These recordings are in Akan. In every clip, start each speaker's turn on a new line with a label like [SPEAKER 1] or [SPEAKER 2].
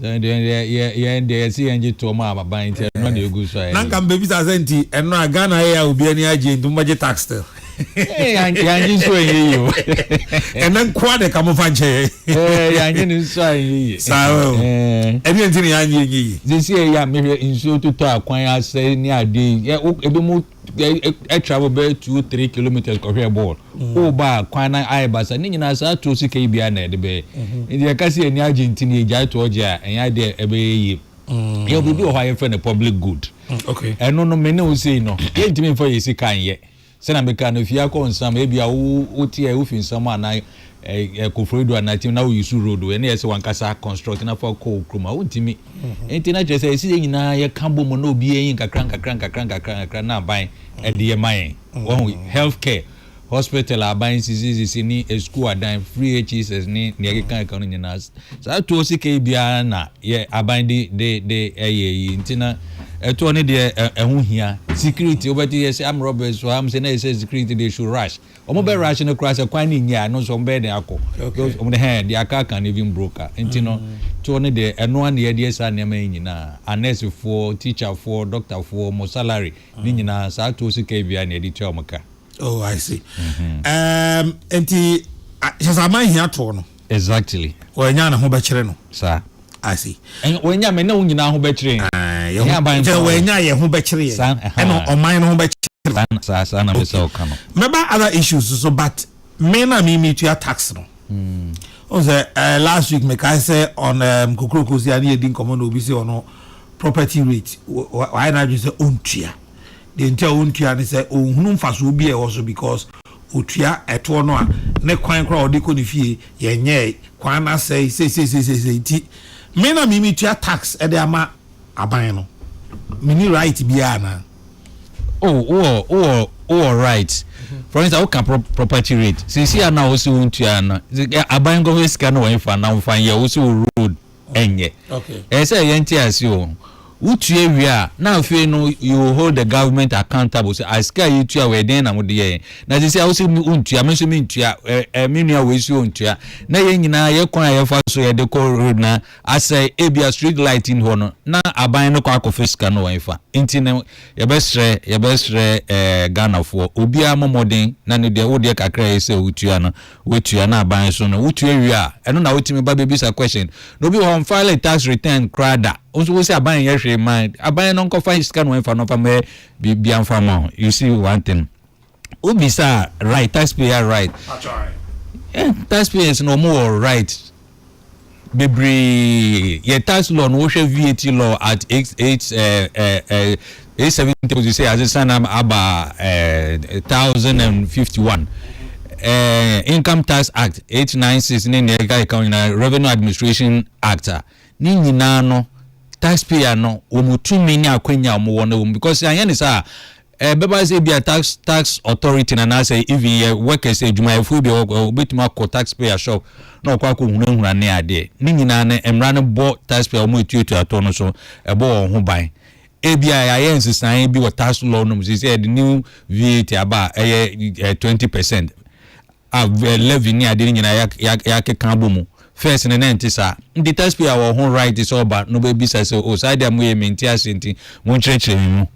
[SPEAKER 1] Sɛ deɛ deɛ yɛ yɛn deɛ yɛsi yɛn gye toɔ mu a aban nti ɛno na egu so a yɛyɛ. Nanka mbebisa sɛ nti
[SPEAKER 2] ɛno a Ghana ayɛ a obi ani agye nti mo bɛgye tax still.
[SPEAKER 1] Yangye nso a ɛnyɛ yie o. Ɛnɛ
[SPEAKER 2] nkoa de ka mo fa nkyɛ yɛn. Yangye
[SPEAKER 1] ne nso a ɛnyɛ yie. Saa o.
[SPEAKER 2] Ɛne nti na yangye ɛnyɛ yie. Sisi yɛ yɛ a mehwɛ
[SPEAKER 1] nsuo totɔ akwan asɛe ne adeɛ yi ebi mo. ɛ travel bɛyɛ two three kilometres kɔhwɛ bɔɔl mm. o ba a kwan na ayɛ basa ne nyinaa saa tuo sika yi bia na ɛde bɛyɛ mm-hmm. nti yɛka sɛ yɛne agye nti ne yɛgyae toɔ gye a ɛnyɛ adeɛ ɛbɛyɛ yie mm. yɛ biribi wɔ hɔ a yɛfrɛ no public good mm, ɛno no
[SPEAKER 2] mene wo
[SPEAKER 1] sei no yɛntumi mfa yɛ sika nyɛ sɛna meka no fie akɔ nsam ebia woteɛ wofi nsam anaa Ɛ ɛ Koforidua do a na ɛte na wo use road wei na ɛsɛ wankasa construct na fa kɔ wo kurom a wontumi. Nti na kyerɛ sɛ ɛsɛ yɛn nyinaa yɛka bom na obi yɛn nkakra nkakra nkakra nkakra nkakra na aban ɛde yɛ ma yɛn. Wahu health care, hospital a aban sisi sisi ne ɛsukuu adan, free HESS ne nea ɛkeka ɛka no nyinaa. Saa toɔ sika yi biara na yɛ aban de de de ɛyɛ yi nti na ɛtoɔ no deɛ ɛ ɛho hia. Security wobɛte yɛsɛ armed robbers wɔ ha mo sɛ na ɛsɛ security they should rush. Ɔmo bɛ rush no koraa sɛ kwan no nni a ɛno nso ɔmo bɛyɛ dɛn akɔ because ɔmo de hɛn their car can even broke a nti no tour no deɛ ɛno ara na yɛde yɛ saa nneɛma yi nyinaa a nurse foɔ, teacher foɔ, doctor foɔ ɔmo salary ne nyinaa saa tour sika yi biara na yɛde tua ɔmo ka. Oh I
[SPEAKER 2] see. Ɛɛm nti hyɛ sɛ aman hia tour no. Exactly.
[SPEAKER 1] Wanya ne ho bɛkyerɛ
[SPEAKER 2] no. Saa. I
[SPEAKER 1] see.
[SPEAKER 2] Ɛn wanya me ne wo
[SPEAKER 1] nyinaa ho bɛkyerɛ yɛn. Ae.
[SPEAKER 2] Ɛyɛ aban nsa. Wanya yɛn ho bɛkyerɛ yɛn. Saa. Ɛha. Ɛna ɔman no ho bɛkyerɛ. Saa na saa saa na mesa ɔka no. Mɛba other issues so but me na me me tua tax no. Mm. Ɔn sɛ uh, last week me kae sɛ on um, kokoroko si ani yɛdi nkɔmɔ na obi sɛ ɔno property rate wayɛ n'adwene sɛ ɔntua. Deɛ nti a ɔntua ne sɛ ɔnhunu mfasoɔ bi a ɛwɔ so because otua ɛtoɔ no a, ne kwan koraa a ɔde kɔ ne fie yɛnyɛɛe, kwan no asɛe seiseiseisei nti me na me metua tax de ama aban no, menni right biara anaa? Oh, wowɔ, wowɔ, wowɔ right. For instance, woka pro, property rate. Sisi a na wo se wontua no, aban nkɔfɛ sika no wɔn fa na wɔn fa yɛ wo se wo road. ɛnyɛ. Ɛsɛ sɛ yɛnte ase
[SPEAKER 1] o. Wotua wie a, na afei no you will hold the government accountable sɛ ah sika a yɛtua wei dɛn na mode yɛɛ? Na sisi a wo se wontua, me nso mentua, ɛ ɛ me nua wei nso ontua. Na yɛn nyinaa yɛn kwan a yɛfa so yɛde kɔ road no asɛe, ebia street light nni hɔ no, na aban no kɔ akɔfa sika no wɔ hefa? Nti no yɛbɛsrɛ yɛbɛsrɛ ɛɛ Ghanafoɔ, obiara mmɔ mmɔden na ne deɛ wo deɛ kakra a ɛsɛ sɛ wotua no, Wotua no aban so no wotua wie a ɛno na wotumi ba bɛbisa question na obi wɔ hɔ a ɔnfile tax return koraa da wo nso wosi aban nyɛ hwee ma aban no nkɔfa sika no ɛmfa no mfa mɛ biribiara mfa ma wo you see one thing wobisa right taxpayer right
[SPEAKER 2] eh, taxpayers
[SPEAKER 1] na wɔn wɔ right bebree yɛ tax law no wohwɛ VAT law at eight eight ɛɛ eh, ɛɛ eh, ɛɛ eh, eight seven table to say asesa na aba ɛɛ thousand and fifty one ɛɛ income tax act eight nine six ne nea ɛka ɛka nyinaa revenue administration act a ne nyinaa no taxpayer no wɔn tumi ne akwanya a wɔn wɔ no wɔn because anyɛ ne saa. Ɛbɛba sɛ ebia tax tax authority no anaasɛ even yɛ workers adwumayɛfoɔ bi a ɛwɔ hɔ bɛtumi akɔ tax payer shop na ɔkɔ akɔ hunahuna ne adeɛ ne nyinaa no mmara no bɔ tax payer wɔn etuatua toɔ no so ɛbɔ wɔn ho ban ebia yɛayɛ nsesaeɛ bi wɔ tax law no mu sɛ sɛ yɛde new VAT aba a ɛyɛ twenty percent a levy ne ade no nyinaa ya ya yɛakeka abɔ mu first no na ɛnte saa nti taxpayer wɔ ho right sɛ ɔba no bɛbisa sɛ o saa deɛ moyɛ mente ase nti monkyerɛkyerɛ me mu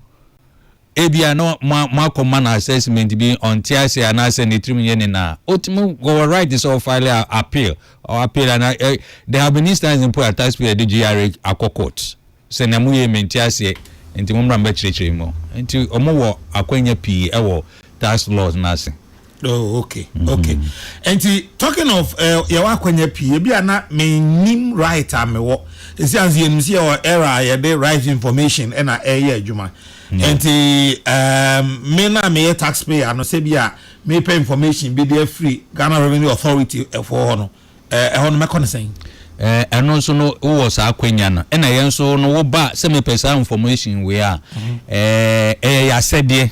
[SPEAKER 1] ebia na moakɔ ma no assessment bi ɔnte ase anaasɛ ne tirim nyɛ ne na a ɔtumi wɔwɔ right sɛ ɔfile a appeal or appeal ana there have been instances mpo a taxpayer de gye yare akɔ court Sɛ nea moyɛ yi mente aseɛ, enti mommra mɛkyerɛkyerɛ mo. Enti wɔwɔ akwanya pii wɔ tax laws no ase. Oh,
[SPEAKER 2] okay, okay. Enti talking of eh, yɛwɔ akwanya pii, ebi a na mennim right a mewɔ. Esi anso yɛnim sɛ yɛwɔ era a yɛde right information ɛna ɛyɛ adwuma. Enti um, me na meyɛ taxpayer no sɛ bi a mepɛ information bi de afiri Ghana Revenue Authority ɛfoɔ hɔ no, Ɛɛ, ɛhɔ no mɛkɔ no sɛn? Ɛɛ, ɛno nso
[SPEAKER 1] no, wowɔ saa akwanya no. Ɛna yɛn nso no, woba a, sɛ mepɛ saa information wei a, ɛɛ, ɛyɛ yɛn asɛdeɛ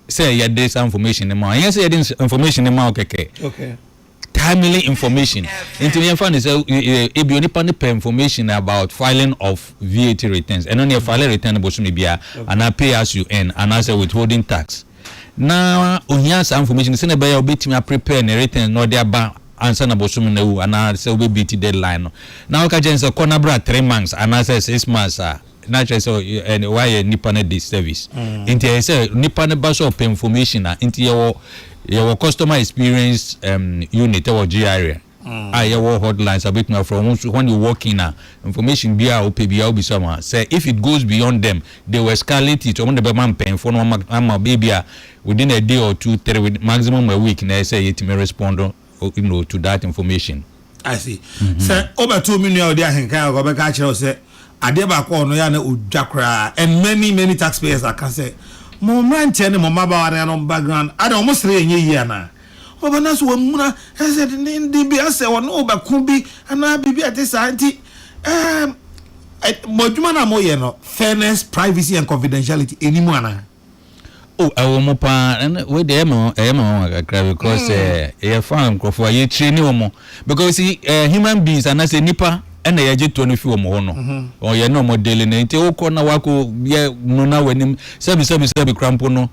[SPEAKER 1] sɛ yɛde saa information no ma wo. Ɛnyɛ sɛ yɛde information no ma wo kɛkɛ. Okay. Timely information. Nti yɛmfa no sɛ, ebi onipa no pɛ information about filing of VAT returns. Ɛno no, yɛfile return bosome biara, anaa pay as you earn, anaasɛ withholding tax. Ná ohia saa information no sɛnea ɛbɛyɛ a obetumi a prepare ne written na ɔde aba ansa na bosome no awu anaa sɛ obe beat deadline no. Ná wɔka kyerɛ no sɛ kɔ na bra three months anaa sɛ six months a na kyerɛ sɛ wayɛ nnipa no disservice. Nti ɛyɛ sɛ nnipa no ba sɛ ɔpɛ information a nti yɛwɔ yɛwɔ customer experience um, unit wɔ GRN. a yɛ wɔ hot lines a wobɛtumi afrɛ wo nso when you walk in a information biara a wopɛ biara wobisa wɔn a sɛ if it goes beyond them they will escalate it wɔn de bɛma mpanyinfoɔ no wɔn ama ebi a within a day or two three with maximum a week na ɛyɛ sɛ yɛtumi respond you know to that information. I see mm-hmm.
[SPEAKER 2] sɛ wobɛto me nua ɔde ahenkan a ɔbɛka akyerɛ wo sɛ adeɛ baako a ɔno yɛ a na ɔdwa koraa and many many taxpayers aka sɛ mo mmeranteɛ ne mo mmabaawa no background ada wɔn sere yɛ nyɛ yie anaa Wɔbɛba no sɛ wɔamuna, ɛsɛ denneennen bi asɛ wɔne wo bɛko bi anaa biribi a ɛte saa nti, ɛɛm, ɛ, mo adwuma no a moyɛ no, fairness, privacy and confidentiality ɛni mu anaa? O.
[SPEAKER 1] Ɛwɔ mu paa. Ɛno wei deɛ ɛyɛ me nwa- ɛyɛ me nwanwa kakra because eh, yɛfa nkurɔfoɔ a yɛtraini wɔn because you see, eh, human beings anaasɛ nnipa ɛna yɛgye toɔ no fi wɔn hɔ no wɔn yɛ ne wɔn daily no nti wokɔ na wakɔ yɛ nona w'anim sɛbi sɛbi sɛbi kora mpo no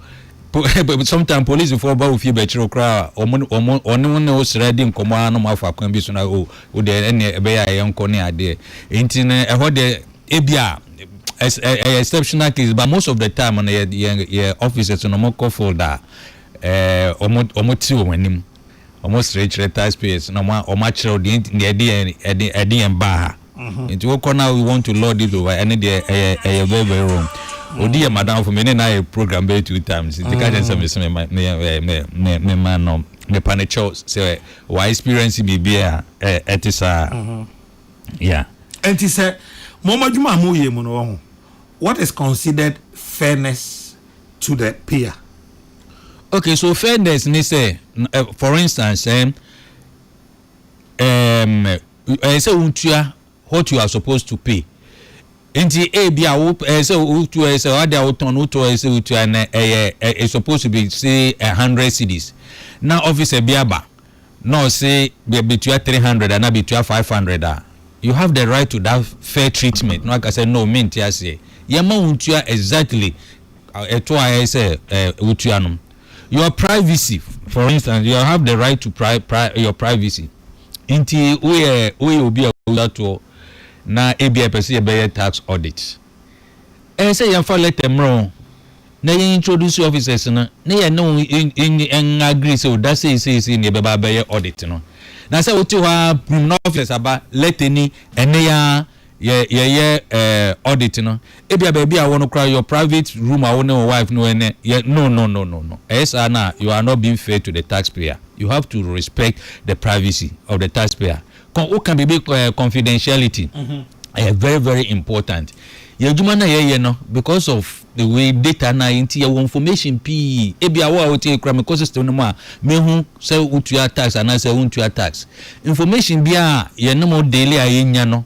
[SPEAKER 1] Sometimes policefoɔ ba wo fie bɛkyere wo koraa a, wɔn wɔn wɔne wo ne wo srɛ di nkɔmmɔ ara na wɔn afa kwan bi so na o wo deɛ ɛnneɛ ɛbɛyɛ a yɛnkɔ ne adeɛ. Nti no ɛhɔ deɛ ebi a ɛs- ɛ- ɛyɛ exceptional case but most of the time no yɛ yɛ yɛ officers no wɔkɔ field a ɛɛ wɔn wɔn te wɔn anim. wɔsrekyerɛ taxpayers na wɔakyerɛw deɛ nti deɛ ɛde yɛn ɛde ɛde yɛn baa ha nti wokɔ na you want to lord this over ɛne deɛ ɛyɛ ɛyɛ very very wrong odi yɛ madamfo me ne na yɛ program bɛyɛ two times nti ka kyɛn sɛ mese me me me me me ma no mepa ne kyɛw sɛ wa experience biribi a ɛte saa yeah nti sɛ
[SPEAKER 2] mo adwuma a moyɛ mu no wɔ ho what is considered fairness to the
[SPEAKER 1] payer. Okay, so fairness ne sɛ, eh, for instance, eh, um, ɛyɛ sɛ wotua what you are supposed to pay. Nti ebi a wo ɛyɛ sɛ wotu ɛyɛ sɛ ade a wotɔn no wotɔ ɛyɛ sɛ wotua na ɛyɛ it's supposed to be say a hundred cedis. Na officer bi aba na ɔse bɛ betua three hundred anaa betua five hundred a, you have the right to that fair treatment na waka sɛ no mente aseɛ, yɛmma wo ntua exactly ɛtoɔ a ɛyɛ sɛ wotua no. Your privacy for instance, you have the right to pri pri your privacy nti woyɛ woyɛ obi a wotua toɔ na ebia yɛpɛ sɛ yɛbɛyɛ tax audit. Ɛyɛ sɛ yɛmfa lɛta mmrɛ wɔn na yɛn introduce officers no na yɛne wɔn nn agree sɛ o da sei sei sei na yɛbɛba abɛyɛ audit no. Na sɛ wote hɔ ara prim na officers aba lɛta ni ɛnnɛ yi ara yɛ yɛyɛ eh, audit no. Ebia baabi a wɔ no koraa your private room a wo ne wo wife no ɛnɛ yɛ no no no no no. Ɛyɛ saa no a you are not being fair to the taxpayer. You have to respect the privacy of the taxpayer. Kɔ wo ka biribi eh confidentiality ɛyɛ very very important yɛ adwuma na yɛ yɛ no because of the way data na nti yɛ wɔ information pii ebi a wo a wo te kura me kɔ system no mu a me hu sɛ wo tua tax anaa sɛ wo ntua tax information bi a yɛ ne mo daily a yɛ nya no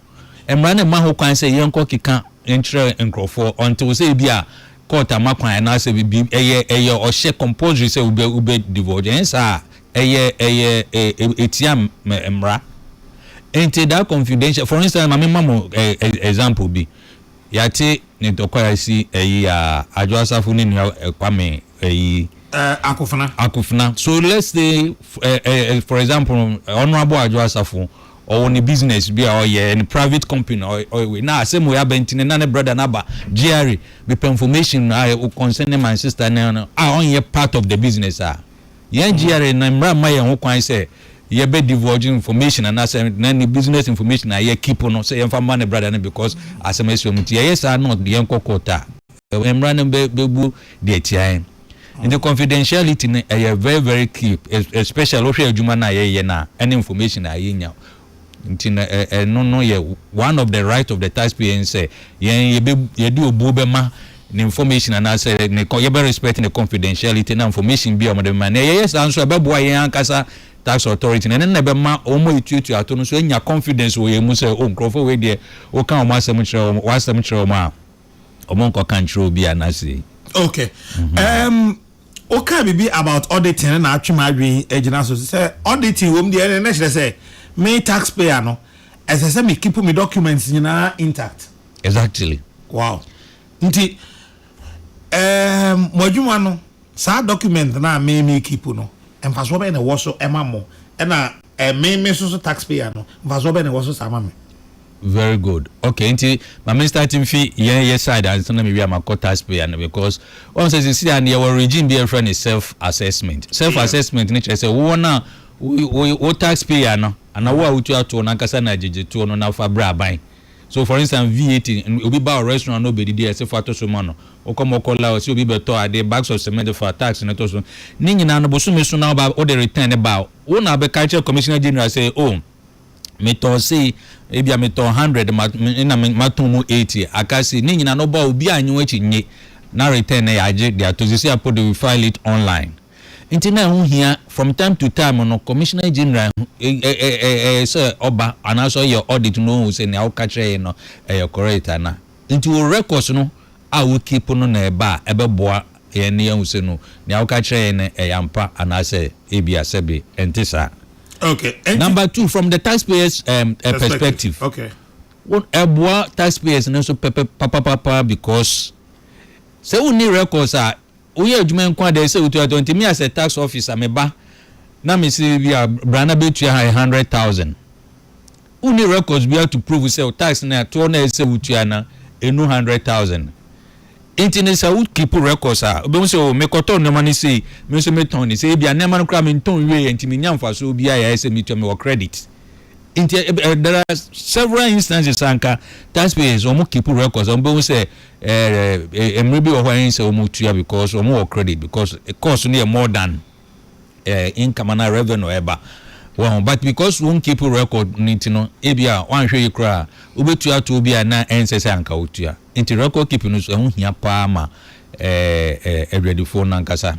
[SPEAKER 1] mmara no mma ho kwan sɛ yɛ nkɔ keka nkyerɛ nkorɔfoɔ until sɛ ebi a court ama kwan anaasɛ bibi ɛyɛ ɛyɛ ɔhyɛ compulsory sɛ wobɛ wobɛ divorce ɛnyɛ saa a ɛyɛ ɛyɛ ɛ ɛtia mɛ mmra nti that confidential for instance ma me ma mo ɛ ɛ example bi yate ne ntɔkwa yɛasi ɛyi a Adwo Asafo ne nua ɛ Kwame ɛyi ɛ Akofena Akofena so let's say ɛ ɛ for example Honourable Adwo Asafo ɔwɔ ne business bi a ɔyɛ ne private company na ɔyɛ wei na asɛm wei aba nti no na ne brother no aba Jerry mepɛ information a ɛwɔ concerning my sister no no a ɔnyɛ part of the business a yɛn Jerry no mmara mma yɛn ho kwan sɛ yɛbɛ divulge information anaasɛ na ne business information a yɛ keep no sɛ yɛmfa mma ne brother no because asɛm asi wɔn nti yɛyɛ saa na yɛnkɔ court a mmara no bɛbu deɛ tia yɛn. Nti confidentiality no ɛyɛ very very key especially wohwɛ adwuma no a yɛyɛ no a ɛne information a yɛnya nti no ɛno no yɛ one of the right of the taxpayer ne sɛ yɛn yɛde obuo bɛma ne information anaasɛ ne yɛbɛ respect ne confidentiality na information bi a wɔde bɛma na yɛyɛ saa nso ɛbɛboa yɛn ankasa tax authority na ɛno na ɛbɛma wɔn a ɛtuatua ato no nso anya confidence wɔ yɛn mu sɛ o nkurɔfoɔ wei deɛ woka wɔn asɛm kyerɛ wɔn wɔn asɛm kyerɛ wɔn a ɔmo nkɔ ka nkyerɛ obi a na sei. okay um,
[SPEAKER 2] wokaa biribi about auditing na atwe m'adwene agyina so sɛ auditing wɔm deɛ ɛne na kyerɛ sɛ me taxpayer no ɛsɛ sɛ me keep me documents nyinaa intact exactly
[SPEAKER 1] wow
[SPEAKER 2] nti um, mo adwuma no Saa document no a me me keep no mfasoɔ bɛn na ɛwɔ so ma mo ɛna me me soso tax payer no mfasoɔ bɛn na ɛwɔ so saa ma me. Very good
[SPEAKER 1] okay nti ma me start nfi yɛn yɛ side ansa na me wie a ma kɔ tax payer no because wɔn sɛ sisi a yɛ wɔ regime bi a yɛfrɛ no self assessment self assessment no kyerɛ sɛ wo wɔn a wo wo wo tax payer no anaa wo a wo tua toɔ no ankasa na gyegye toɔ no na fa brɛ aban So for instance VAT no obi ba wo restaurant na obedidi a ɛse fa to so ma no? Wokɔ mɔkɔla a ɔse obi bɛtɔ ade bags of cement fa tax no to so. Ne nyinaa no bosome so na woba wode return no ba a wo na abɛka akyerɛ Commissioner General sɛ oh metɔɔ sei ebia metɔɔ hundred ma na matɔn mu eighty aka sei. Ne nyinaa no woba a obiara nnye wo akyi nnye na return no yɛagye de ato. Seesei a po de we file it online. Nti na ɛho hia from time to time no Commissioner General sɛ ɔba anaasɛ ɔyɛ audit na ɔhu sɛ nea woka kyerɛ yɛn no ɛyɛ correct anaa. Nti wo records no a wo keep no na ɛba a ɛbɛboa yɛn na yɛahu sɛ no nea woka kyerɛ yɛn no ɛyɛ ampa anaasɛ ebia sɛbe ɛnte saa.
[SPEAKER 2] Number two, from
[SPEAKER 1] the taxpayers um, perspective,
[SPEAKER 2] wo ɛboa
[SPEAKER 1] taxpayers no nso pɛpɛ papapapa because sɛ wonni records a Woyɛ adwuma nko a dɛ sɛ wotua tɔ nti me as a tax officer me ba na me se bi a bra na bɛtua ha a hundred thousand wonni records biara to prove sɛ wo tax no a toɔ no a ɛsɛ sɛ wotua no ɛnu hundred thousand nti no sɛ wo keep records a wobɛhu sɛ oo mekɔtɔ nnoɔma no sei me nso me tɔn no sei ebia nnoɔma no koraa me ntɔn nwieɛ nti me nya mfasoɔ biara yɛ ayɛ sɛ metua me wɔ credit nti there are several instances anka taxpayers wɔn keep records wɔn bɛhu sɛ Eh mmere bi wɔ hɔ a ɛnsɛ wɔn tua because wɔn wɔ credit because course no yɛ more than eh income anaa revenue ɛba wɔn but because wɔn keep record no nti no ebi a wɔanhwɛ yi koraa wobɛtua atoɔ bi a na ɛnsɛ sɛ anka wotua nti record keep no so ɛho hia paa ma eh eh adwadifoɔ no ankasa.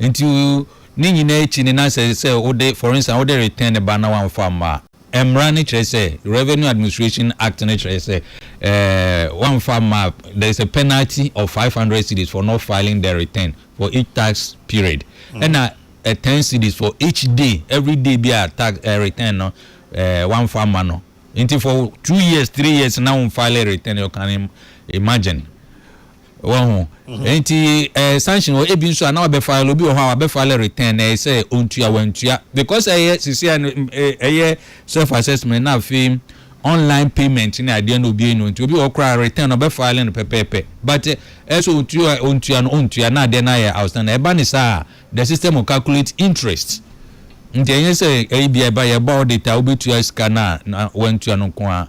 [SPEAKER 1] Nti ne nyinaa akyi no na sɛ sɛ wode, for instance, wode return no ba na wamfa amma a, mmara no kyerɛ sɛ, Revenue Administration Act no kyerɛ sɛ, eh, wamfa amma a, there is a penalty of five hundred cedis for not filing the return for each tax period, ɛna ten cedis for each day, every day bi a tax, eh, return no, eh, wamfa amma no. nti for two years three years na wɔn file return you can imagine wɔn ho nti ɛɛ sanction wɔ ebi nso a na wabɛ file obi wɔ hɔ a wabɛ file return ɛyɛ sɛ ontua wantua because ɛyɛ sisi ɛyɛ self assessment na afei online payment ne adeɛ na obi enu nti obi wɔ koraa return ɔbɛ file no pɛpɛɛpɛ but ɛsɛ ontua ontua no ontua na adeɛ na ayɛ outstanding ɛba ne saa. The system will calculate interest, nti ɛnyɛ sɛ ebia ɛba yɛ ɛba audit a wobɛtua sika no a na woantua no nko ara,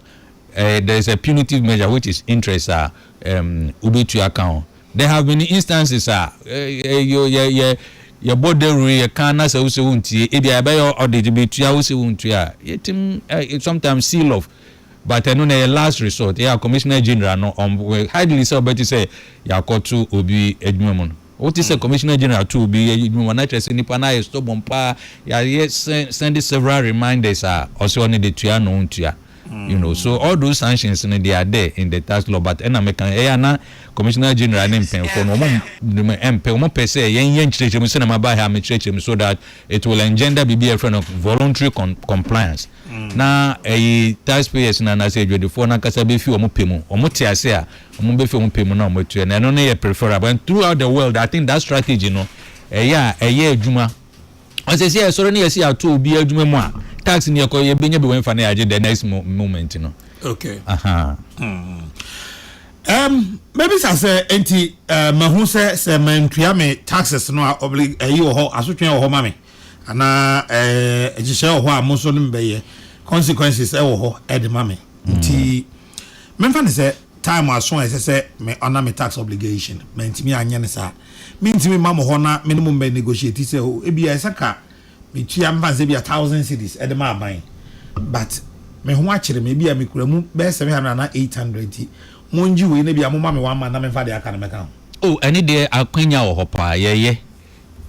[SPEAKER 1] ɛyɛ there is a punitive measure which is interest a ɛɛm wobɛtua aka ho. There have been instances a ɛɛ yɛ yɛ yɛ yɛbɔ dawuro yɛka anasɛ wosɛ wontie ebia yɛbɛyɛ audit yɛbɛtua wosɛ wontua a yɛtim ɛɛ sometimes seal off but ɛno no ɛyɛ last resort ɛyɛ a Commissioner General no ɔm highly sɛ ɔbɛte sɛ yɛakɔto obi adwuma mu no. Wote sɛ Commissioner General to obi yɛ adwuma na kyerɛ sɛ nipa no ayɛ stubborn paa, yɛayɛ send several reminders a ɔsɛ ɔne de tua na ɔntua. You know, so all those sanctions no they are there in the tax law but ɛna meka ɛyɛ a na Commissioner General ne mpanyinfoɔ no wɔn mpɛ wɔn pɛ sɛ yɛn yɛ nkyerɛkyerɛ mu sɛdeɛ maba ha mekyerɛkyerɛ mu so that it will engender biribi a yɛfrɛ no voluntary compliance. na ɛyi taxpayers no anaasɛ adwadifoɔ no ankasa bɛfi wɔn pɛ mu, wɔn te ase a wɔn bɛfi wɔn pɛ mu na wɔn atua, na ɛno no yɛ preferable and throughout the world I think that strategy no ɛyɛ a ɛyɛ adwuma. Ɔsɛ sɛ yɛsɔre ne yɛsi ato obi adwuma mu a tax no yɛkɔ yɛbɛnya bi wɔn fa no yɛ agye the next moment no. Okay. Aha.
[SPEAKER 2] Mm. Um, mɛbisa sɛ nti uh, mahu sɛ sɛ mantua me taxes no a ɛyi wɔ hɔ asotwe wɔ hɔ ma me Anaa eh, nhyehyɛe wɔ hɔ a mo nso ne me bɛyɛ, consequences wɔ hɔ de ma me. Nti memfa no sɛ time aso a ɛsɛ sɛ me honour me tax obligation, mantumi anyɛ no saa. Mentumi mma mo hɔ na me ne mo mmɛ negotiate sɛ oh, ebia ɛsɛ ka metua, memfa no sɛ ebia thousand cedis de ma aban, but me ho akyere me, ebia mekura mu bɛyɛ seven hundred anaa eight hundred, nti mongye wei na ebia momma me one month na memfa deɛ aka no mmɛka ho. Oh, ɛno deɛ
[SPEAKER 1] akwanya wɔ hɔ paa, yɛyɛ.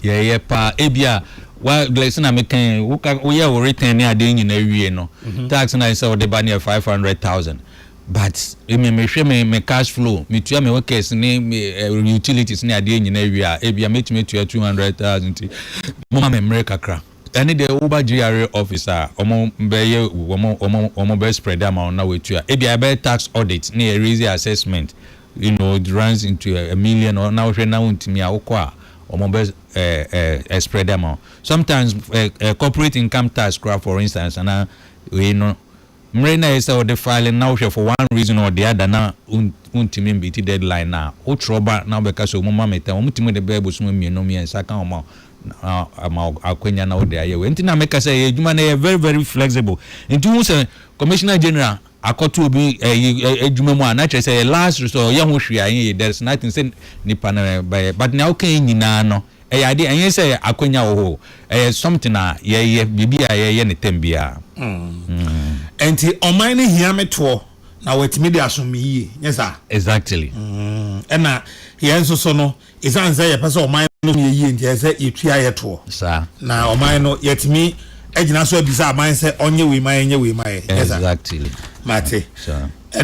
[SPEAKER 1] Yeah yeah paa ebia wa like sɛ na me kan wo ka wo yɛ wo return ne adeɛ nyinaa wie no tax na sɛ ɔde ba ne yɛ five hundred thousand but emi me hwɛ me me cash flow me tua me workers ne me uh, utilities ne adeɛ nyinaa wie a ebia me tumi tua two hundred thousand ti mo ma me mmere kakra ɛne deɛ wo ba GRA office a wɔn bɛyɛ wɔn wɔn wɔn bɛ spread ama wɔn na wɔatua ebia ɛbɛyɛ tax audit ne yɛ raise assessment. You know it runs into a a million or na wohwɛ na wontumi a wokɔ a wɔn bɛ eh eh eh spread ama wo sometimes eh eh corporate income tax koraa for instance anaa wei no mmere na ɛyɛ sɛ wode file no na wohwɛ for one reason or the other na wontumi mbeati deadline no a wotwerɛ ba na wobɛka sɛ wɔn ma me time wɔtumi de bɛyɛ bosom mmienu mmiɛnsa ka wɔn a ama wo akwanya na wode ayɛ wei nti na meka sɛ yɛ adwuma no ɛyɛ very very flexible nti wohu sɛ commissioner general akɔto obi ɛyi adwuma mu a na kyerɛ sɛ ɛyɛ last resort ɔyɛ ho hwee a ɛnyɛ yie there is nothing sɛ nipa no bɛyɛ but nea woka yi nyinaa no ɛyɛ adeɛ ɛnyɛ sɛ akwanya wɔ hɔ o ɛyɛ something a yɛyɛ biribi a yɛyɛ ne tɛm biara mm.
[SPEAKER 2] Ɛnti ɔman no hia me toɔ na wɔatumi de asom me yie nyɛ saa exactly mm.
[SPEAKER 1] ɛna
[SPEAKER 2] yɛn nso so no Esiane sɛ yɛpɛ sɛ ɔman no so yɛ yie nti, ɛsɛ sɛ yɛtua yɛ toɔ. Na ɔman
[SPEAKER 1] no,
[SPEAKER 2] yɛtumi gyina so abisa aman sɛ ɔnyɛ wei ma yɛn, ɔnyɛ wei ma yɛn. Ɛnyɛ saa? Exactly. Mate.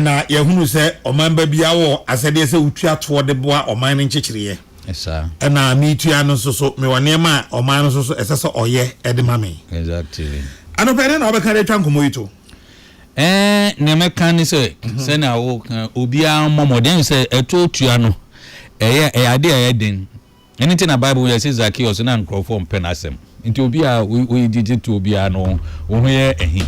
[SPEAKER 2] Na
[SPEAKER 1] yɛahunu
[SPEAKER 2] sɛ ɔmanba biara wɔ asɛdeɛ sɛ wotua toɔ de boa ɔman no nkyekyereɛ. Saa. Ɛna
[SPEAKER 1] metua no
[SPEAKER 2] nso so, mewɔ nneɛma a ɔman no nso so ɛsɛ sɛ ɔyɛ de ma me. Exactly.
[SPEAKER 1] Anɔpa yi, dɛn na
[SPEAKER 2] wobɛka de atwa nkɔmmɔ yi to? Ɛɛ,
[SPEAKER 1] nea mɛka ne sɛ, sɛnea woreka no, obiara mmɔ mmɔden. Ɛne sɛ, ɛtow tua no, ɛyɛ ade a ɛyɛ den. Ɛno nti na Bible mu yɛse Zakeus na nkurɔfo mpɛ n'asɛm. Enti obiara a oyi gyigye toɔ biara no, wo ho yɛ ahi.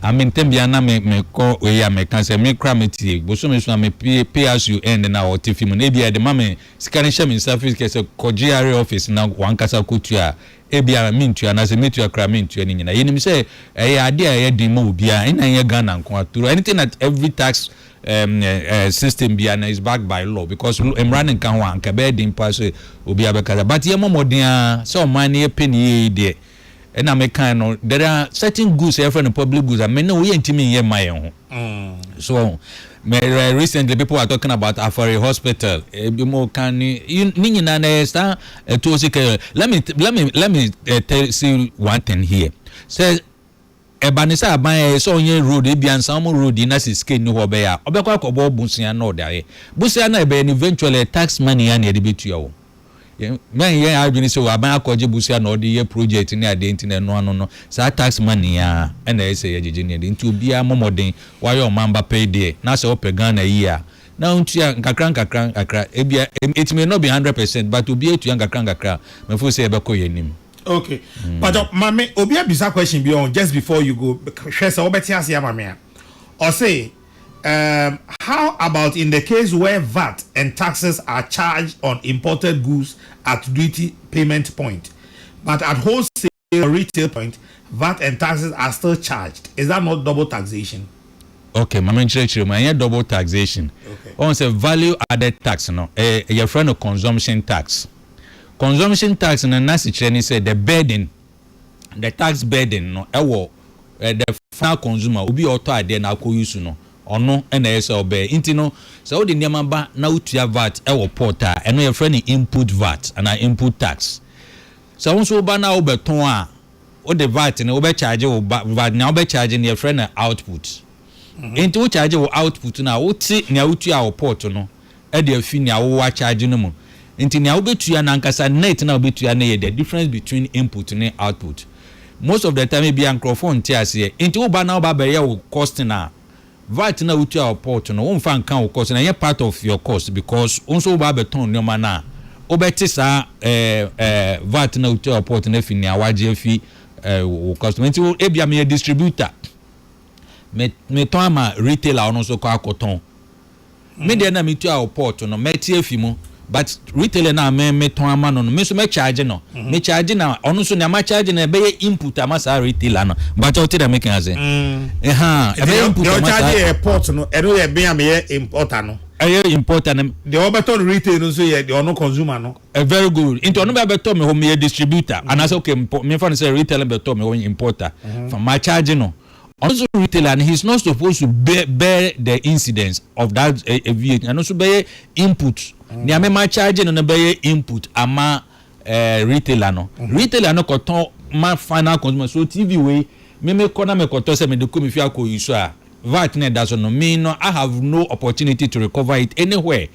[SPEAKER 1] Ame ntɛm biara na mekɔ wei a, meka sɛ, me koraa mɛtie. Bosome so a mepue pay as you earn na ɔte fi mu no, ebia ɛde ma me sika no hyɛ me nsa free kɛ sɛ kɔgye areɛ office na w'ankasa kɔtua a, Ebia mentua anaasɛ metua koraa mentua ne nyinaa. Yɛnim sɛ ɛyɛ adeɛ a ɛyɛ den ma obiara, ɛnna ɛnyɛ Ghana nko ara. Through anything that every tax system biara no is backed by law because mmara no nka ho a, anka ɛbɛyɛ den paa sɛ obiara bɛkasa. But yɛmmɔ mmɔden ara sɛ ɔman no yɛpɛ ne yie yi deɛ, ɛnna mekae no, there are certain goods a yɛfrɛ no public goods a me ne wo yɛntumi nyɛ mma yɛn ho. So wahu? Me recently people were talking about Afari Hospital, ebinom reka ne ne nyinaa no ɛyɛ saa Ɛtɔ si kɛ, let me let me let me eh, tell see one thing here. Sɛ ɛba ne sɛ aban ɛyɛ sɛ ɔnyɛ road ebia nsan ɔmo road yi na sɛ sika nni hɔ ɔbɛyɛ a, ɔbɛkɔ akɔbɔ bosea na ɔde ayɛ. Bosea no a ɛbɛyɛ no eventually ɛyɛ tax money ara na yɛde bɛtua o. Yɛn mɛnyɛ yɛn adwene sɛ o aban akɔgye bosea na ɔde yɛ project ne adeɛ nti na ɛno ano no saa tax money ara ɛna ɛyɛ sɛ yɛgyegye ne adeɛ nti obiara mmɔ mmɔden wayɛ ɔmanba pɛi deɛ na sɛ ɔpɛ Ghana yie a na ɔntua nkakrankakra, ebia etumi no be hundred percent but obiara tua nkakrankakra a, me feel sɛ yɛbɛkɔ yɛn anim. Okay
[SPEAKER 2] pakyɛ mame obi abisa question bi ɔho just before you go hwɛ sɛ wobɛte ase ama me a ɔse ehm how about in the case where vat and taxes are charged on imported goods at duty payment point but at wholesale your retail point, vat and taxes are still charged, is that not double taxation? Okay, ma
[SPEAKER 1] menkyerɛkyerɛ mu, ɛnyɛ double taxation. Woahu sɛ
[SPEAKER 2] value
[SPEAKER 1] added tax no, ɛyɛ, yɛfrɛ no consumption tax. Consumption tax no n'asekyerɛ ne sɛ the burden, the tax burden no ɛwɔ the final consumer, obi a ɔtɔ adeɛ na akɔ use no, ɔno na ɛyɛ sɛ ɔbɛyɛ. Nti no, sɛ wode nneɛma ba na wotua vat ɛwɔ port a, ɛno yɛfrɛ no input vat anaa input tax. Sɛ wo nso wo ba no a wobɛtɔn a, wode vat no wobɛkyagye wo ba, vat nea wobɛkyagye no yɛfrɛ no output. Enti wokyagye wo output no a, wote nea wotua wo pot no de afi nea wowɔ akyagye no mu. Enti nea wobɛtua no ankasa net no a wobɛtua no yɛ the difference between input ne output. Most of the time ebia nkurɔfoɔ nte aseɛ. Enti wo ba no a woba abɛyɛ wo costing a, Vat no a wotua wɔ port no womfa nka wo cost no, ɛnyɛ part of your cost because wo nso woba abɛtɔn nneɛma no a, wobɛte saa vat no a wotua wɔ port no afi nea woagye afi wo customer. Nti ebia meyɛ distributor, metɔn ama retailer a ɔno nso kɔ akɔtɔn. Me deɛ na metua wo pot no mɛte afi mu but retailer no a me metɔn ama no no me nso mɛ charge no mm-hmm. me charge na ɔno nso nea ma charge no ɛbɛyɛ input ama saa retailer no but ɔte dɛ meka ase ɛha ɛbɛyɛ input ama saa charge yɛ pot no
[SPEAKER 2] ɛno yɛ bɛn a meyɛ importer no ɛyɛ importer no
[SPEAKER 1] deɛ ɔbɛtɔ no
[SPEAKER 2] retail no nso yɛ deɛ ɔno consumer no ɛ very good nti ɔno
[SPEAKER 1] bɛ bɛtɔ me hɔ meyɛ distributor mm-hmm. anaasɛ okay mefa no sɛ retailer bɛtɔ me hɔ importer mm-hmm. fa ma charge no Ɔno nso retailer no he is not supposed to bear the incidence of that eh, eh, VAT. Ɛno nso bɛyɛ input. Nea mema charge no no bɛyɛ input ama eh, retailer no. Mhm. Retailer no kɔtɔn ma final consumer. So TV wei me mekɔ na mekɔtɔ sɛ mede kɔ me fie akɔ yi so a VAT na ɛda so no me no I have no opportunity to recover it anywhere.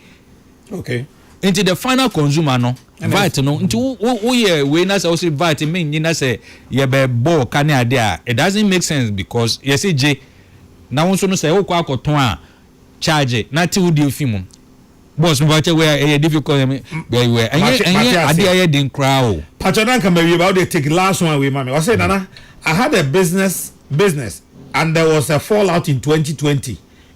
[SPEAKER 1] Okay.
[SPEAKER 2] Nti the final
[SPEAKER 1] consumer no vat no nti woyɛ wei na sɛ wose vat menyi na sɛ yɛbɛ bɔɔ ka ne ade a it doesn't make sense because yɛse gye na wo nso no sɛ wokɔ akɔtɔn a charge na te wo deɛ fi mu. Boss mi pakyɛ wei a ɛyɛ difficult ɛmi bɛyi wei ɛnyɛ ɛnyɛ ade ɛyɛ den koraa o. Pakyɛ na nka ma wie ba
[SPEAKER 2] o de take last one wei ma mi ɔsɛ nana I had a business business and there was a fall out in 2020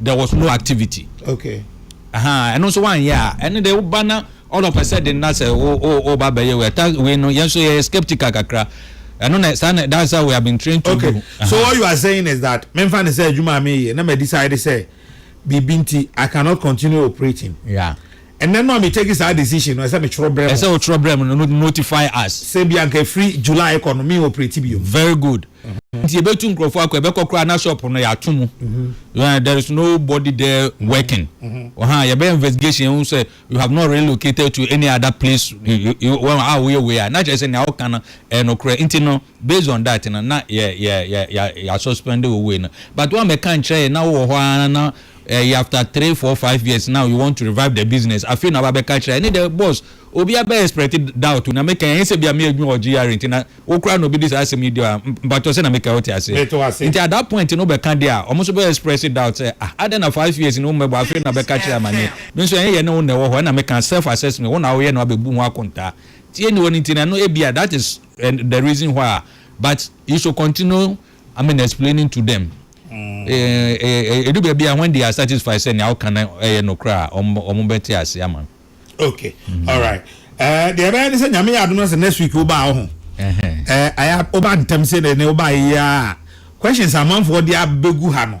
[SPEAKER 1] there was no activity okay
[SPEAKER 2] ahaa ɛno nso
[SPEAKER 1] wanyɛ a ɛne de woba na all of a sudden na sɛ woba bɛyɛ wei ta wei no yɛn nso yɛyɛ skeptical kakra ɛno na saa na that's how we have been trained to okay. do okay so what you are
[SPEAKER 2] saying is that memfa ne sɛ adwuma a meyɛ na ma decide sɛ biribi nti i cannot continue operating yeah Ɛnɛ
[SPEAKER 1] no a me take
[SPEAKER 2] saa decision no ɛsɛ me twerɛ brɛ mo. Ɛsɛ o twerɛ brɛ mo no
[SPEAKER 1] notify us. Sɛ bia nka ɛfiri
[SPEAKER 2] July kɔ no me operate biom. Very good.
[SPEAKER 1] Nti yɛbɛtu nkurɔfoɔ akɔ yɛbɛkɔ koraa na shop no yɛato mu there is no body there working ɔha yɛbɛyɛ investigation yɛhu sɛ you have not relocated to any other place a woyɛ wei a na kyerɛ sɛ nea woka no ɛyɛ nokorɛ nti no based on that no na yɛ yɛ yɛ yɛ yɛasuspɛnde wo wei no but woammɛka nkyerɛ yɛn na wowɔ hɔ ara na ɛyɛ after three four five years now you want to revive the business afei na woaba abɛka kyerɛ yɛn ɛne deɛ boss obiara bɛ expect doubt o na meka yɛn ɛnyɛ sɛ bia me adwuma wɔ GRA nti na wo koraa na obi de saa asɛm yi di hɔ a mpakyɛw sɛ na meka wote aseɛ Mete wo ase. nti at that point no wobɛka deɛ a wɔn nso bɛ express doubt sɛ ah adɛn na five years ni wo mmɛbɔ afei na bɛka kyerɛ amaneɛ me nso ɛnyɛ yɛne wo na ɛwɔ hɔ ɛna meka self assessment wo na woyɛ na wabɛbu ho akontaa tie ne wɔ no nti no ɛno ebia that is and the reason why but you should continue I mean explaining to them ɛdu baabi a when they are satisfied sɛ nea woka no ɛyɛ nokorɛ a wɔn bɛte ase ama no. okay mm-hmm.
[SPEAKER 2] all right ɛɛ deɛ ɛbɛyɛ ne sɛ nyame yɛ adum na sɛ next week wo baa ho ɛɛ ayɛ wo baa ntɛm sɛ ne ne wo baa yɛ a questions amanfoɔ de abɛgu ha no.